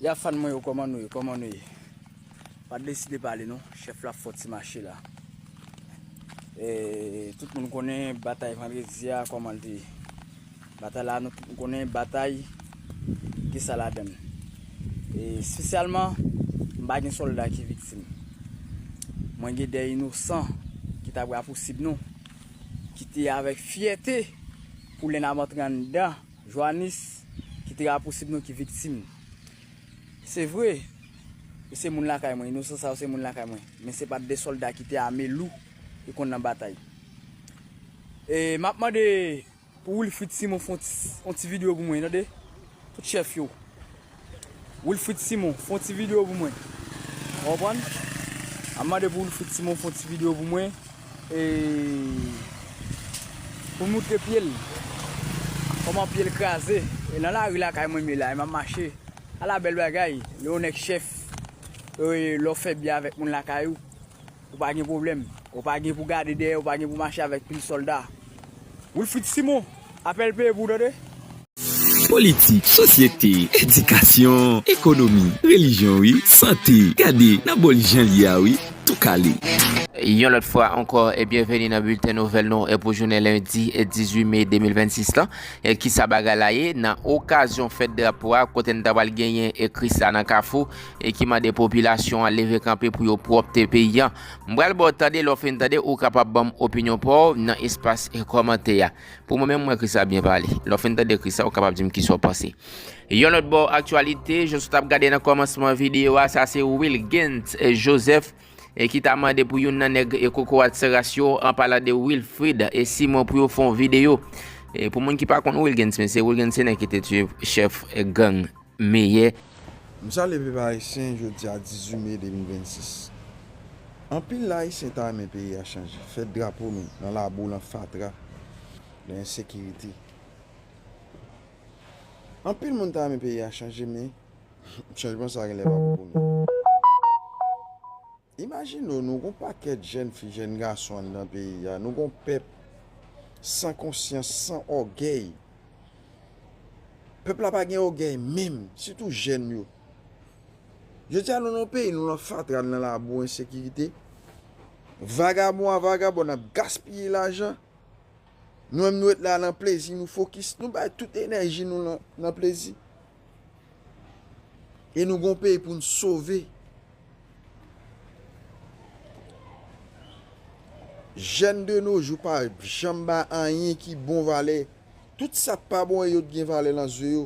Ya fan mwen yo koman nou ye koman nou ye pa deside pale non chef la fò ti mache la ee tout moun konnen batay vandredi a koman te ye batay la nou tout konnen batay ki sa la dan e spesyalman m pa gen solda ki viktim mwen gen de inosan ki ta pou rapousib nou ki te avek fyète pou lè n ap antre andan Joanis, ki te rapousib nou ki viktim. Se vre, yo se moun lakay mwen, inosan sa yo se moun lakay mwen, men se pa t de sòlda ki te ame lou e konn nan batay. E m ap mande pou Wilfrid Simon fè yon ti videyo pou mwen, tande, tout chèf yo, Wilfrid Simon fon ti video pou mwen ou konprann ap mande pou Wilfrid Simon fon ti video pou mwen e pou moutre pyel koman pyel kraze e nan lari lakay mwen mye la e map mache ala bèl bagay lè yon nèg chèf e lè ou fè byen avèk moun lakay ou. Ou pa gen pwoblèm. Ou pa gen pou gade dèyè, ou pa gen pou mache avèk pil sòlda. Wilfrid Simon, apèl peye pou w tande! Politik, sosyete, edikasyon, ekonomi, relijyon wi, sante, gade nan bòl jan l ye a wi, tou kale. Yon lòt fwa ankò, byenveni nan bilten nouvèl nou pou jounen lendi 18 me 2026 lan. Kisa bagay la ye? Nan okazyon fèt drapo a, kote n ta pral genyen kris la nan kafou, e ki mande popilasyon an leve kanpe pou yo pwòpte peyi an. M pral ba w tande, lè w fin tande, ou kapab ban m opinyon pa w nan espas kòmantè a. Pou mwen menm, m wè Christa byen pale. Lè w fin tande Christa, ou kapab di m kisa w panse. Yon lòt bò aktyalite, jan sou t ap gade nan kòmansman videyo a, sa se Wilguens Joseph e ki ta mande pou youn nan nèg e kokorat Seras yo, an palan de Wilfrid e Simon pou yo fè yon videyo. E pou moun ki pa konn Wilguens, mesye, Wilguens se nèg ki te tiye chèf gang meyè. M salye pep ayisyen jodi a 18 me 2026 anpil ayisyen ta renmen peyi a chanje fèt drapo nou nan labou lan fatra nan ensekirite anpil moun ta renmen peyi a chanje men chanjman sa genlè pa pou kounya. Imajine w nou gon pakèt jèn fi jèn gason anndan peyi a, nou gon pèp san konsyans, san ògèy. Pèp la pa gen ògèy menm, sitou jèn yo. Jodi a nou nan yon peyi nou nan fatra, nou nan labou ensekirite. Vagabon a vagabòn ap gaspiye lajan. Nou menm nou ret la lan plezi nou fokis nou bay tout enèji nou lan plezi. E nou gon peyi pou n sove. Jèn de no jou pa janm bay anyen ki bon valè. Tout sa k pa bon e yo t gen valè lan zye yo.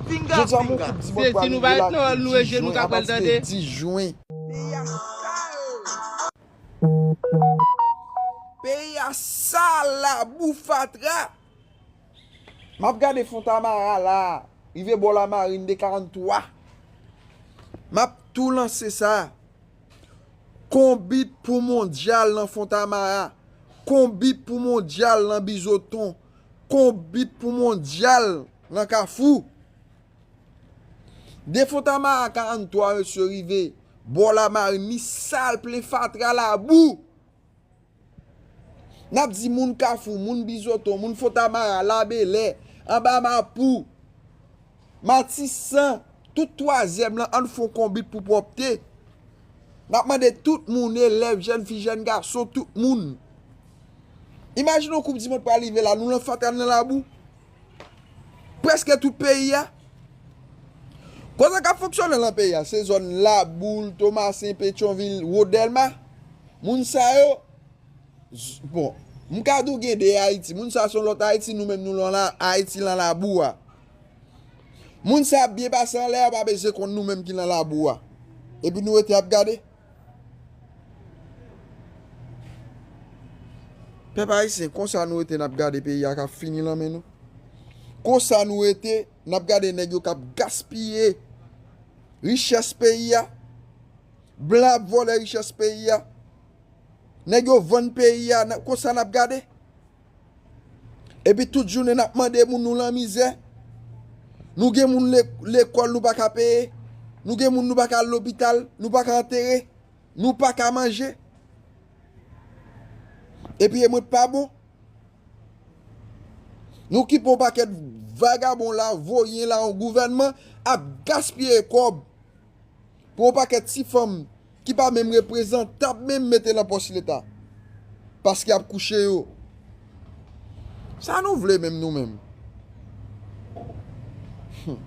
Pinga pinga. Se si nou pa ret nan hall nou e je nou kap wèl tande. Peyi a sal. Peyi a sal labou fatra. Map gade fontamara la rive bò la marine de 43 map tou lanse sa konbit pou mondyal nan fontamara konbit pou mondyal nan bizoton. Konbit pou mondyal nan kafou. De Fontamara a 43 mesye rive bò Lamarin li sal plen fatra labou. N ap di moun kafou, moun bizoton, moun Fontamara, Labelè, anba Mapou. Matisan, tout twazyèm lan ann fon konbit pou pwòpte. N ap mande tout moun, elèv, jèn fi, jèn gason, tout moun. Imajine yon koup dimond pral rive la, nou lan fatra n lan labou. Prèske tout peyi a. Kon sa k ap fonksyone lan peyi a, se zòn Laboul, Tomasen, Petyonvil, Wo Dèlma. Moun sa yo, bon, m ka di w gen de Ayiti. Moun sa yo se yon lòt Ayiti, nou menm nou lan Ayiti lan labou a. Moun sa ap byen pase anlè yo pa bezwen konn nou menm ki nan labou a. Epi nou rete ap gade. Pèp ayisyen konsa nou rete nap gade peyi a kap fini lan men nou. Konsa nou rete nap gade nèg yo kap gaspiye richès peyi a. Blan ap vòlè richès peyi a. Nèg yo vann peyi a konsa nap gade. Epi tout jounen nap mande moun nou lanmizè. Nou gen moun lekòl nou paka peye. Nou gen moun nou paka al lopital. Nou paka antere. Nou paka manje. Epi e mwen pa bon. Nou ki pon pakèt vagabon la voyen la yon gouvènman ap gaspye kòb. pou yon pakèt ti fanm ki pa menm reprezantab menm mete lan pòs leta paske yap kouche yo sa nou vle menm nou menm humm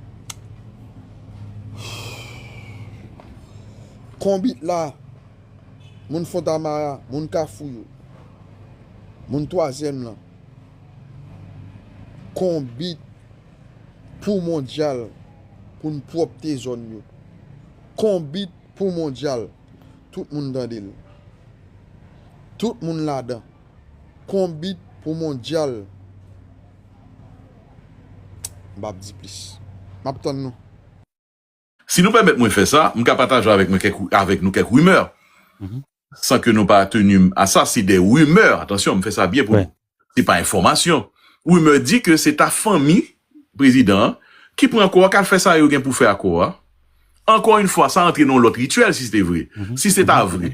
konbit la moun fontamara moun kafou yo moun twazyèm lan konbit. pou mondyal pou n pwòpte zòn yo. Konbit pou mondyal tout moun tande l. Tout moun ladan. Konbit pou mondyal m pap di plis. M ap tann nou. Si nou pèmèt mwen fè sa, m ka pataje avèk mwen kèk avèk nou kèk rimè, san ke nou pa tenu m a sa, se de rimè, atansyon, m fè sa byen pou nou, se pa enfòmasyon. Rimè di ke se ta fanmi prezidan an ki pran kò a, kal fè sa yo gen pou fè ak kò a. Ankò yn fwa, sa antre nan yon lòt rityèl si se te vre. Si se ta vre,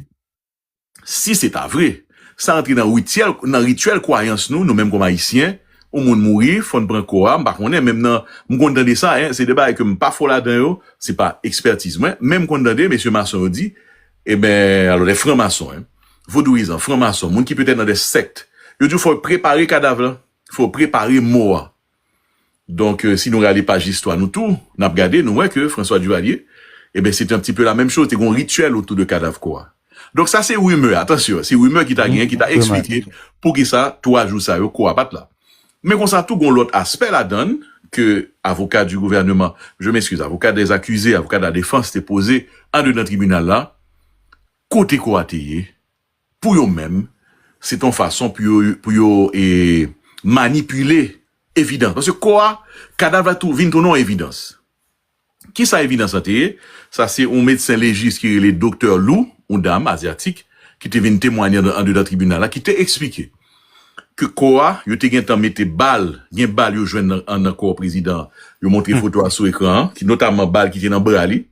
Si se ta vre, sa antre nan rityèl, nan rityèl kwayans nou, nou menm kòm Ayisyen, yon moun mouri, fò n pran kò a, m pa konnen, menm nan, m konn tande sa, en, se de bagay ke m pa fò ladan yo, se pa ekspètiz mwen, men m konn tande mesye mason yo di, eben, alò lè fran mason, en, vodouyizan, fran mason, moun ki petèt nan de sèkt, yo di w fò yo prepare kadav lan, fò yo prepare mò a, Donk, si nou rale paj listwa nou tou, n ap gade, nou wè ke François Duvalier, eben, se te un petit peu la même chose, te gen yon rituel autour de kadav kò a. Donk, sa se rumeur, atansyon, se rumeur ki ta genyen, ki ta eksplike pou ki sa 3 jou sa yo kò a pa t la. Men konsa tou gen yon lòt aspè ladann ke avoka du gouvernement, je m'excuse, avoka des accusés, avoka de la défense te poze andedan tribinal la, kote kò a te ye? Pou yo menm, se te yon fason pou yo manipile evidans. Paske kò a, kadav la vin tounen yon evidans. Ki sa evidans lan te ye? Sa se yon medsen lejis ki rele Doktè Lu, yon dam azyatik, ki te vin temwanye andedan tribinal la, ki te eksplike ke kò a, yo te gentan mete bal, gen bal yo jwenn nan kò prezidan an. Yo montre foto a sou ekran an, ki notamman bal ki te nan bra li.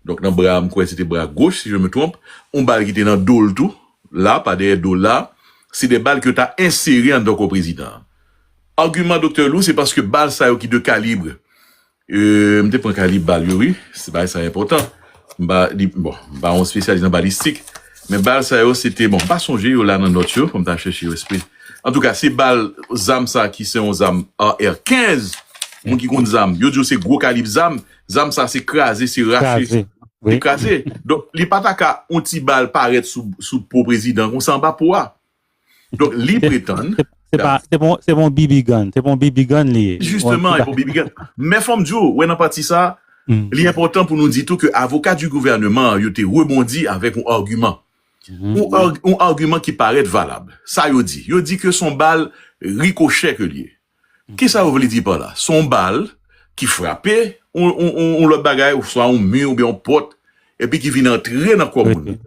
Donk nan bra m kwè se te bra goch si je me trompe, yon bal ki te nan do l tou la, pa dèyè do l la, se 2 bal ke yo ta ensere anndan kò prezidan an. Agiman Doktè Lou se paske bal sa yo ki de kalibre, m te pran kalib bal yo wi, bagay sa enpòtan, m pa li, bon, m pa yon spesyalis nan balistik, men bal sa yo se te, bon, m pa sonje yo la nan nòt yo, fò m ta chèche yo espre. Antouka se bal, zam sa ki se yon zam AR-15, moun ki konn zam, yo di yo se gwo kalib zam, Zam sa se kraze se rache se kraze donk li pa ta ka yon ti bal parèt sou po prezidan konsa anba po a donk li pretann se pa se pa yon bb gun se pa yon bb gun li ye jisteman se pa yon bb gun men fòm di ou wè nan pati sa li enpòtan pou nou di tou ke avoka di gouvèneman yo te rebondi avèk yon agiman yon agiman ki parèt valab sa yo di yo di ke son bal rikochè ke li ye Kisa ou vle di pa la? Se yon bal ki frape yon lòt bagay oswa yon mi oubyen yon pòt epi ki vin antre nan kò moun nan.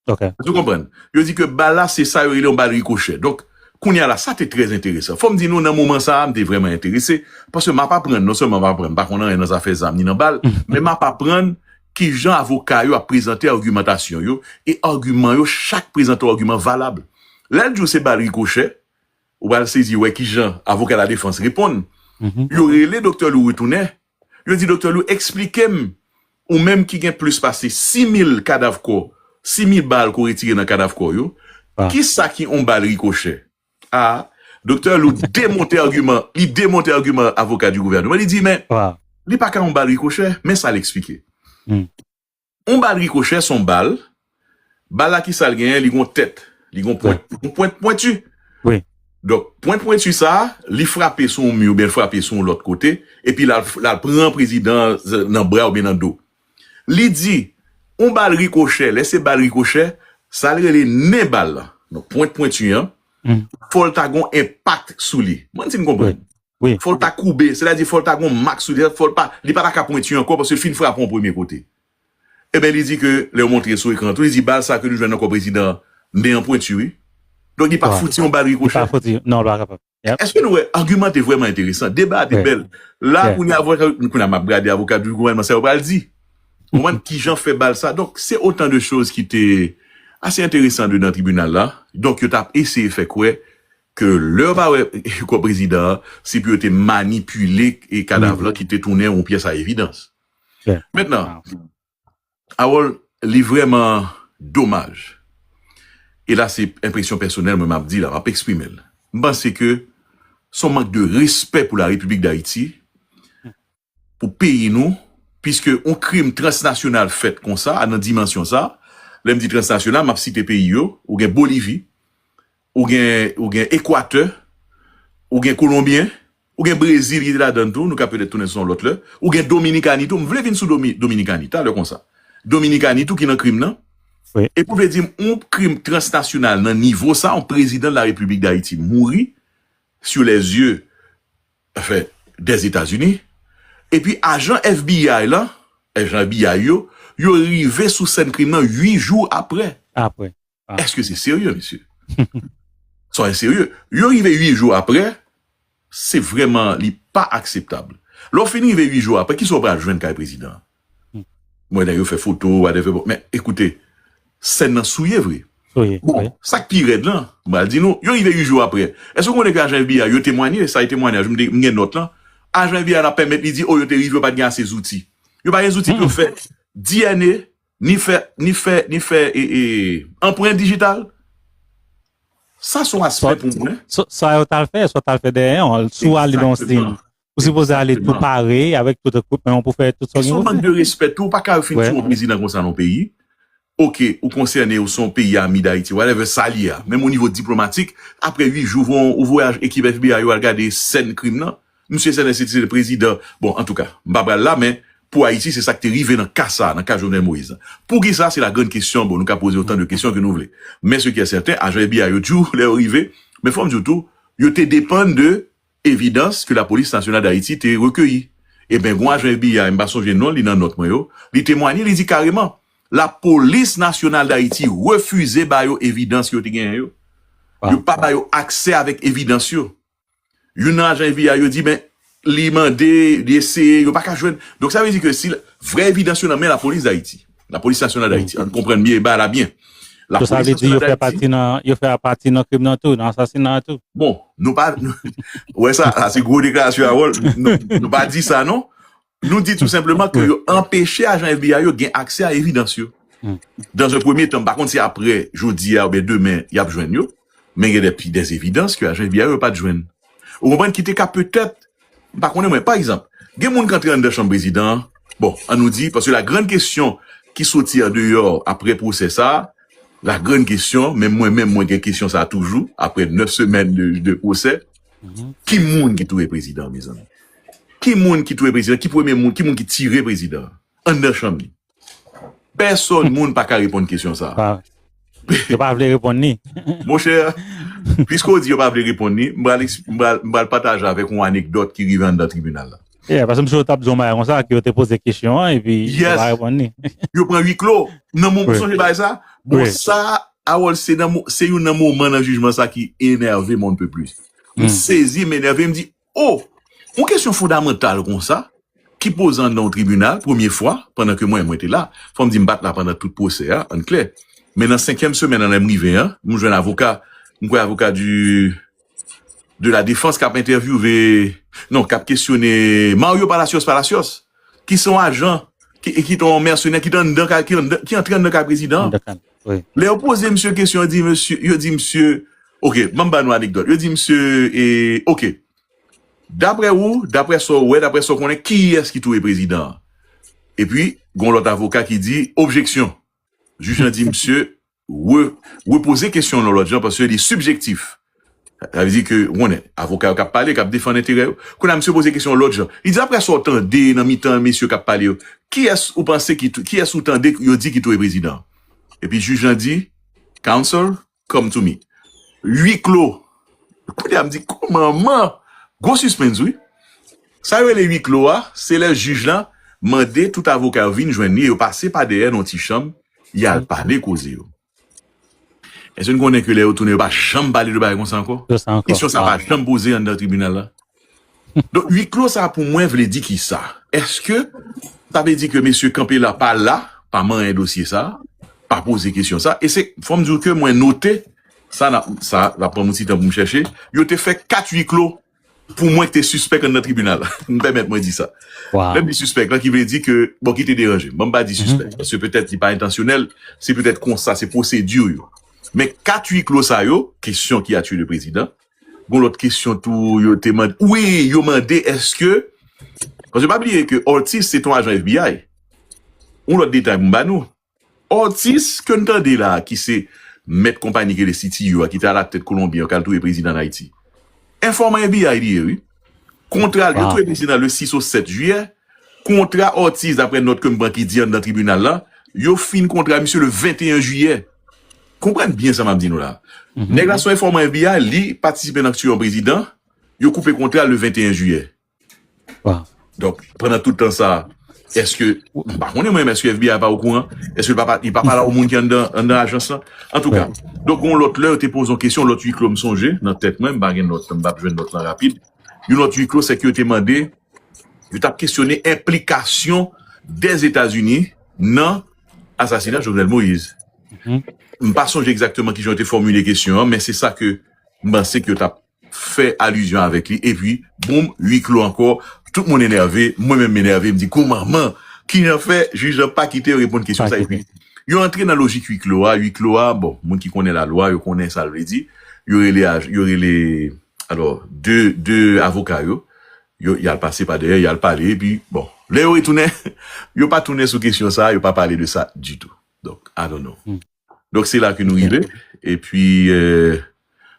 Èske ou konprann? Yo di ke bal la se sa yo rele yon bal rikochè. Donk, kounye a la, sa te trè enteresan. Fò m di nou nan moman sa a, m te vrèman enterese paske m ap aprann, non sèlman m ap aprann, m pa konn anyen nan zafè zam ni nan bal, men m ap aprann kijan avoka yo ap prezante agimantasyon yo e agiman yo, chak prezante yon agiman valab. Lè l di w se bal rikochè, Ou pral sezi wè ki jan avoka ladefans reponn. Yo rele Doktè Lou retounen. Yo di Doktè Lou eksplike m, ou menm ki gen plis pase 6 mil kadav kò, 6 mil bal ke w retire nan kadav kò yo, ki sa ki yon bal rikochè? A, Doktè Lou demonte agiman, li demonte agiman avoka di gouvèneman, li di men, li pa ka yon bal rikochè, men sa l eksplike. On bal rikochè son bal, bal la kisal genyen li gon tèt, li gon pwent, yon pwent pwentu, donk pwent pwentu sa li frape sou yon mi oubyen frape sou yon lòt kote epi lal pran prezidan nan bra oubyen nan do. Li di on bal rikochè, lè se bal rikochè sal rele nen bal lan, donk pwent pwentu an fòl ta gon enpak sou li, mwen si nou konprann. Fò l ta koube, sètadi fò l ta gen yon mak sou li, sètadi fò l pa, li pa ta ka pwenti ankò paske l fin frape yon premye kote. Enben li di ke, lè yo montre sou ekran an tou, li di bal sa ke nou jwenn nan kò prezidan an, men an pwenti wi. Donk li pa fouti yon bal rikochè. Èske nou wè, agiman te vrèman enteresan, deba a te bèl. La kounye a, kounye a m ap gade avoka du gouvènman sa yo pral di. Ou konprann? Ki jan fè bal sa. Donk se otan de choz ki te ase enteresan dedan tribinal la. Donk yo t ap eseye fè kwè Ke lè yo pa wè kò prezidan an, se pou yo te manipile kadav lan ki te tounen yon pyès a evidans. Mentnan, Harold, li vrèman domaj, e la se enpresyon pèsonèl mwen m ap di la, m ap eksprime l, m panse ke s on mank de respè pou la Repiblik Dayiti pou peyi nou, piske yon krim transnasyonal fèt konsa, nan dimansyon sa, lè m di transnasyonal, m ap site peyi yo, ou gen Bolivi, ou gen Ekwatè, ou gen Kolonbyen, ou gen Brezil ki te ladann tou, nou ka petèt tounen sou sa yon lòt lè, ou gen Dominikani tou, m vle vin sou Dominikani talè konsa, Dominikani tou ki nan krim nan, epi w vle di m yon krim transnasyonal nan nivo sa, yon prezidan de la Repiblik Dayiti mouri sou lèzye. Afè dè Etazini, epi ajan FBI lan, ajan FBI yo, yo rive sou sèn krim nan 8 jou aprè. Aprè. Èske se serye, mesye? Sa a enserye. Yo rive 8 jou aprè, se vrèman li pa akseptab. Lè w fin rive 8 jou aprè, ki sa w pral jwenn kay prezidan an? Mwen nan yo fè foto whatever bon men ekoute sèn nan souye vre bon sak pi rèd lan m pral di nou yo rive 8 jou aprè èske ou konnen ke ajan FBI yo temwanye sa e temwanyaj m gen nòt lan ajan FBI la pèmèt li di oh yo te rive yo pat gen ase zouti yo pa gen zouti pou yo fè DNA ni fè ni fè ni fè anpren digital sa son aspè pou mwen sa yo tal fè sa yo tal fè dèyè an sou al li nan yon stil Ou sipoze ale tou pare avèk tout equipment ou pou fè tout sa ou gen pou fè. Se yon mank de respè tou, ou pa ka fin tou yon prezidan konsa nan yon peyi. Ok, ou konsène, ou se yon peyi ami Dayiti, whatever, sa li a. Menm o nivo diplomatik, apre 8 jou, ou voye ekip FBI yo al gade sèn krim nan. Misye se lè se te prezidan, bon, antouka, m pa pral la, men, pou Ayiti, se sa ki te rive nan ka sa a, nan ka Jovenel Moïse la. Poukisa, se la grann kesyon, bon, nou ka poze otan de kesyon ke nou vle. Men, se ki è sèten, ajan FBI yo tjou, lè yo rive, men fò m di w tou, yo te depann de evidans ke Lapolis Nasyonal Dayiti te rekeyi. Eben, gon ajan FBI, m pa sonje non li nan nòt mwen yo, li temwanye, li di kareman, Lapolis Nasyonal Dayiti refize ba yo evidans yo te genyen yo. Yo pa ba yo aksè avèk evidans yo. Youn nan ajan FBI yo di, men, li mande, li eseye, yo pa ka jwenn. Donk sa vle di ke si vrè evidans yo nan men Lapolis Dayiti. La polis nasyonal dayiti an konprann byen e ba la byen. La polis nasyonal dayiti. Yo fè pati nan yo fè a pati nan krim nan tou nan asasina a tou. Bon nou pa ou wè sa a se gwo deklarasyon Harold nou pa di sa non nou di tou senpleman ke yo anpeche ajan FBI yo gen aksè a evidans yo dan ze premye tan pa konn si aprè jodi a oubyen demen yap jwenn yo. Men gen de pi des evidans ke ajan FBI yo pat jwenn. Ou konprann ki te ka petèt, m pa konnen mwen, pa egzanp, gen moun k antre anndan Chanm Prezidan an, bon, an nou di, paske la grann kesyon ki soti an deyò apre pwosè sa a, la grann kesyon, menm mwen menm mwen gen kesyon sa a toujou, apre 9 semèn de pwosè, ki moun ki touye Prezidan an mezanmi? Ki moun ki touye Prezidan? Ki premye moun? Ki moun ki tire Prezidan an anndan chanm li? Pèsòn moun pa ka reponn kesyon sa a. Yo pa vle reponn ni. Monchè, piske ou di yo pa vle reponn ni, m pral m pral pataje avèk ou yon anekdòt ki rive anndan tribinal la. Yeah, paske m si yo t ap di yon bagay konsa ke yo te poze kesyon an epi yo pa reponn ni. Yo pran ui klo. Nan mo, ou sonje bagay sa? Bon sa, Harold, se nan mo, se youn nan moman nan jijman sa ki enève mwen anpe plis. M sezi, m enève, m di, O! Yon kesyon fondamantal konsa, ki poze anndan yon tribinal, premye fwa, pandan ke mwen, mwen te la, fò m di m pa t la pandan tout pwosè a, ann klè, men nan senkyèm semèn an lè m rive an, m jwenn avoka, m kwè avoka di, de la defans k ap entèvyouve, non, k ap kesyone Mario Palacios Palacios! ki se yon ajan, ki se yon mèsenè ki antre anndan kay prezidan an. Lè yo poze misye kesyon, yo di misye, ok, banm ba nou anekdòt, yo di misye, ok, daprè ou, daprè sa ou wè, daprè sa ou konnen, kiyès ki touye prezidan an? Epi, gon lòt avoka ki di, objeksyon. Jij lan di misye, re repoze kesyon yon lòt jan paske li sibjektif. Sa vle di ke ou konnen, avoka yo k ap pale, k ap defann enterè yo. Kounye a misye poze kesyon yon lòt jan. Li di aprè sa w tande nan mitan mesye k ap pale yo, kiyès ou panse ki kiyès ou tande yo di ki touye prezidan an? Epi jij lan di, Counsel, come to me. Ui klo. Kounye a m di, Ko manman! Gwo sispens wi. Sa yo rele ui klo a, se lè jij lan mande tout avoka yo vin jwenn li e yo pase pa dèyè nan yon ti chanm Y al pale koze yo. Èske nou konnen ke lè yo tounen, yo pa janm pale de bagay konsa ankò? Yo sa ankò. Kesyon sa a pa janm poze anndan tribinal la. Donk, ui klo sa a pou mwen vle di ki sa? Èske sa vle di ke mesye Campela pa la, pa manyen dosye sa a, pa poze kesyon sa a? E se, fò m di w ke mwen note, sa n ap, sa, sa pran m yon ti tan pou m chèche, yo te fè 4 ui klo. Pou mwen ki te sispèk anndan tribinal, m pèmèt mwen di sa. Lè m di sispèk la, ki vle di ke, bon ki te deranje m, bon m pa di sispèk, paske petèt li pa entansyonèl, se petèt konsa, se pwosedi yo. Men 4 ui klo sa yo, kesyon ki a tue le prezidan, gon lòt kesyon tou yo te mande, wi yo mande eske, paske pa bliye ke Ortiz se te yon ajan FBI, yon lòt detay pou m ba nou, Ortiz ke n tande la ki se mèt konpani ki rele CTU a ki te alak tèt kolonbyen yo kal touye prezidan an Ayiti. Enfòman FBI li ye wi. Kontra l yo touye prezidan le 6 o 7 jiyè, kontra Ortiz daprè nòt ke m pran ki di anndan tribinal la, yo fini kontra misye le 21 jiyè. Konprann byen sa m ap di nou la. Nèg la son enfòman FBI li patisipe nan k tuye yon prezidan, yo koupe kontra l le 21 jiyè. Waw. Donk, pandan tout tan sa a, èske, m pa konnen mwen menm, èske FBI pa okouran? Èske l pa pa, li pa pale ak yon moun ki anndan, anndan ajans lan? Antouka, Right. donk yon lòt lè, yo te poze yon kesyon, lòt ui klo m sonje, nan tèt mwen, m pa gen nòt lan, m pa p jwenn nòt lan rapid. Yon lòt ui klo, se ke yo te mande, yo t ap kesyone enplikasyon Dèzetazini nan asasina Jovenel Moïse. Mhm. M pa sonje egzakteman ki jan yo te fòmile kesyon an, men se sa ke m panse ke yo t ap fè alizyon avèk li epi boom ui klo ankò tout moun enève mwen menm m enève m di koumanman kijan fè jij lan pa kite yo reponn kesyon sa epi yo antre nan lojik ui klo a ui klo a bon moun ki konnen lalwa yo konnen sal vle di yo rele aj yo rele alò de de avoka yo yo yal pase pa dèyè yal pale epi bon lè yo retounen yo pa tounen sou kesyon sa yo pa pale de sa ditou donk i don't know. Donk se la ke nou rive, e pi,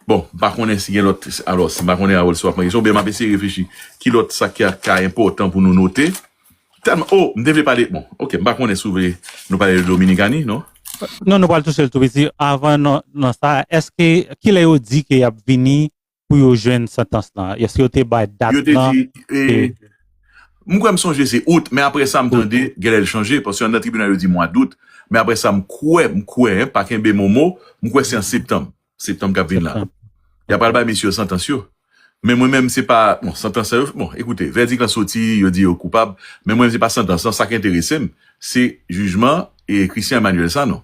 bon, m pa konnen si gen lòt, alò, si m pa konnen Harold si w ap pran kesyon, ou byen m ap eseye reflechi, ki lòt sa ki ka enpòtan pou nou note, tèlman, o, m te vle pale, bon, ok, m pa konnen si w vle nou pale de Dominikani, non? Non, nou pral touche l tou piti, avan nan sa, èske, kilè yo di ke y ap vini pou yo jwenn santans lan? Èske yo te bay dat lan? Yo te di, mwen kwè m sonje se out, men apre sa m tande genlè l chanje, paske anndan tribinal yo di mwa dout, men apre sa m kwè, m kwè, pa kenbe mo mo, m kwè se an septanm, septanm k ap vin la, y a pral bay mesye yo santans yo. Men mwen menm se pa, bon, santans sa yo, bon, ekoute, vèdik lan soti, yo di yo koupab, men mwen se pa santans lan, sa k enterese m, se jijman Christian Emmanuel Sanon.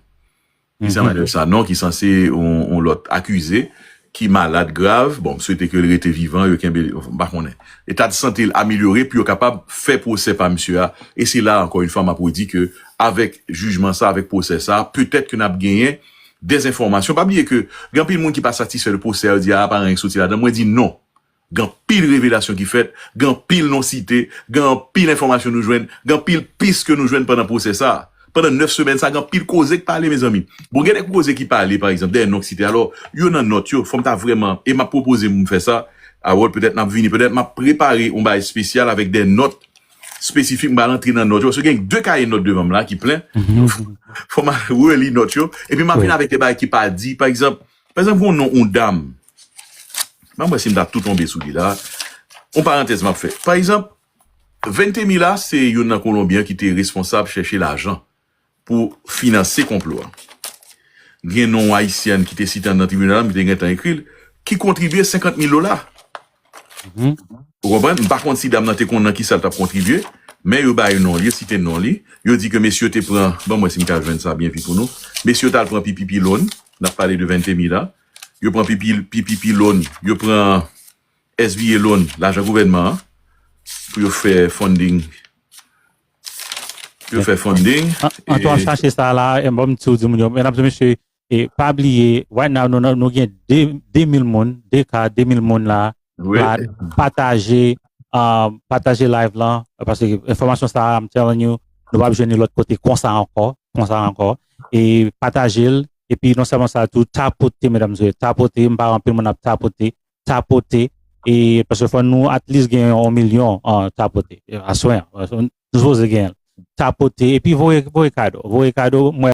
Christian Manuel Sanon ki sanse yon lòt akize ki malad grav, bon m swete ke l rete vivan, yo kenbe l, m pa konnen, eta de sante l amelyore pou yo kapab fè pwosè pa misye a, e se la ankò yon fwa m ap redi ke avèk jijman sa, avèk pwosè sa, petèt ke n ap genyen dèzenfòmasyon, pa bliye ke gen anpil moun ki pa satisfè de pwosè a, yo di a pa gen anyen ki soti ladan, mwen di non. Gen anpil revelasyon ki fèt, gen anpil non site, gen anpil enfòmasyon nou jwenn, gen anpil pis ke nou jwenn pandan pwosè sa a. Pandan 9 semèn sa a, gen anpil koze k pale mezanmi. Bon gen de koze ki pale pa egzanp dèyè non k site alò, yo nan nòt yo, fò m ta vrèman, e m ap pwopoze pou m fè sa, Harold petèt n ap vini, petèt m ap prepare yon bagay espesyal avèk de nòt espesifik m pral antre nan nòt yo paske gen 2 kaye nòt devan m la ki plen, fò m al reli nòt yo epi m ap vini avèk de bagay ki pa di pa egzanp, Pa egzanp gen yon non yon dam, m ap wè si m ta tou tonbe sou li la, yon parantèz m ap fè. Pa egzanp, Ventemilla se youn nan Kolonbyen ki te responsab chèche lajan pou finanse konplo a. Gen non yon Ayisyèn ki te site anndan tribinal la, m te gentan ekri l, ki kontribye 50 mil dola. Mhm. Ou konprann? M pa konn si dam nan te konn nan ki sa l t ap kontribye, men yo bay non l, yo site non li, yo di ke mesye yo te pran, ban m wè si m ka jwenn sa byen pi pou nou, mesye yo t al pran pipi pi lon, n ap pale de Ventemilla, yo pran pipi, pipi pi lon, yo pran SVA lon, lajan gouvènman an, pou yo fè funding, pou yo Men, fè funding, an- e, antan w chache sa la, e m bon m ti w di moun yo, men ap di mesye, E pa bliye, right now nou nan nou gen 2000 moun, 2 ka 2000 moun la, pa pataje pataje live lan paske enfòmasyon sa I'm telling you, nou pap jwenn li lòt kote konsa ankò, konsa ankò e pataje l epi non sèlman sa tou tapote medamzè, tapote, m pa wè anpil moun ap tapote, tapote e paske fò nou at least gen yon milyon tapote aswè an, nou sipoze gen l tapote epi voye kado, voye kado mwen.